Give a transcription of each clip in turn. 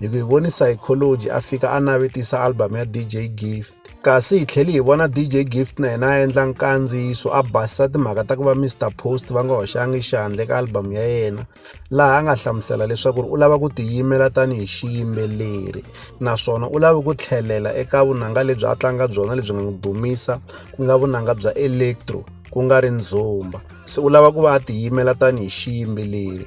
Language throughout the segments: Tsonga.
Hi ku hi voni Psychology a fika a navetisa album ya DJ Gift. Kasi hi tlhele hi vona DJ Gift na yena a endla nkandziyiso a basisa timhaka ta ku va Mr Post va nga hoxangi xandla eka album ya yena laha a nga hlamusela leswaku u lava ku tiyimela tanihi xiyimbeleri naswona u lava ku tlhelela eka vunanga lebyi a tlanga byona lebyi nga n'wi dumisa ku nga vunanga bya electro ku nga ri ndzumba se u lava ku va a tiyimela tanihi xiyimbeleri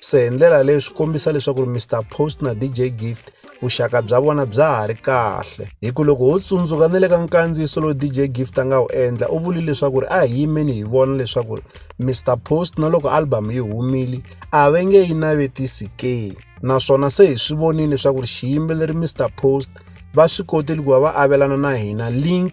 se hi ndlela leyi swi kombisa leswaku ri mr post na dj gift vuxaka bya vona bya ha ri kahle hi ku loko ho tsundzuka ni le ka nkandziyiso lowu dj gift a nga wu endla u vuli leswaku ri a hi yimeni hi vona leswaku ri mr post na loko album yi humile a ve nge yi navetisi ke naswona se hi swi vonile leswaku ri xiyimbeleri mr post va swi kotile ku va va avelana na hina link